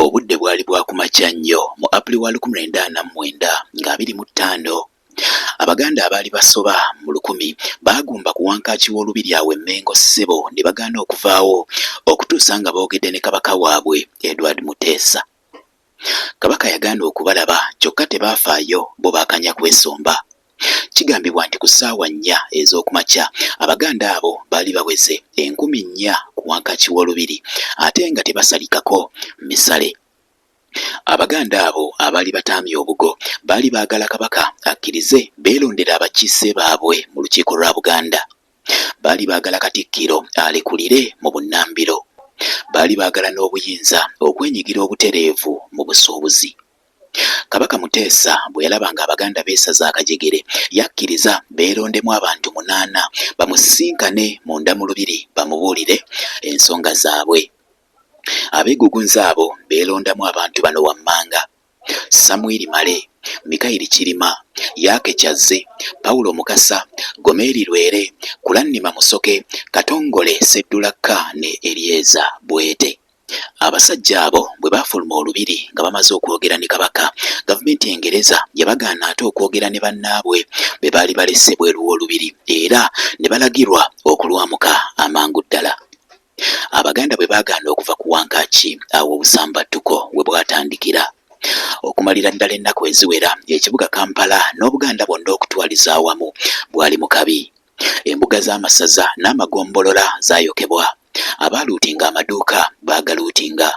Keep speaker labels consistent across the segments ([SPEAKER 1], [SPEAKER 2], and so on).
[SPEAKER 1] Obudde bwali bwa ku makya nnyo mu Apuli wa lukumi lwenda ana mu mwenda nga abiri mu ttaano, Abaganda abaali basoba mu lukumi baagumba ku Wankaaki w'Olubiri awo e Mmengo ssebo ne bagaana okuvaawo okutuusa nga boogedde ne Kabaka waabwe Edward Muteesa. Kabaka yagaana okubalaba kyokka tebaafaayo bo baakanya kwesomba. Kigambibwa nti ku ssaawa nnya ez'okumakya Abaganda abo baali baweze enkumi nnya ku wankaaki w'Olubiri ate nga tebasalikako misale. Abaganda abo abaali bataamye obugo baali baagala Kabaka akkirize beerondere abakiise baabwe mu Lukiiko lwa Buganda. Baali baagala Katikkiro alekulire mu bunnambiro. Baali baagala n'obuyinza okwenyigira obutereevu mu busuubuzi. Kabaka Muteesa bwe yalaba ng'Abaganda beesaze akajegere, yakkiriza beerondemu abantu munaana bamusisinkane munda mu Lubiri bamubuulire ensonga zaabwe. Abeegugunzi abo beelondamu abantu bano wammanga, Samwiri Male, Mikayiri Kirima, Yaake Kyazze, Paulo Mukasa, Gomeri Lwere, Kulannima Musoke, Katongole Sseddulakka ne Eryeza Bwete. Abasajja abo bwe baafuluma olubiri nga bamaze okwogera ne Kabaka, gavumenti Engereza yabagaana ate okwogera ne bannaabwe be baali balese bweru w'olubiri era ne balagirwa okulwamuka amangu ddala. Abaganda bwe baagaana okuva ku Wankaaki, awo obusambattuko we bwatandikira. Okumalira ddala ennaku eziwera, ekibuga Kampala n'Obuganda bwonna okutwaliza awamu bwali mu kabi. Embuga z'amasaza n'amagombolola zaayokebwa, abaaluutinga amaduuka baagaluutinga,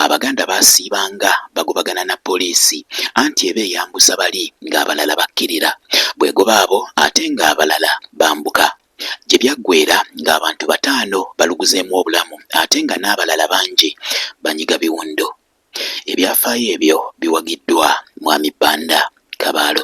[SPEAKER 1] Abaganda baasiibanga bagobagana na poliisi anti eba eyambuza bali ng'abalala bakkirira, bw'egoba abo ate ng'abalala bambuka. Gye byaggweera ng'abantu bataano baluguzeemu obulamu ate nga n'abalala bangi banyiga biwundu. Ebyafaayo ebyo biwagiddwa Mwami Banda, Kabaalo.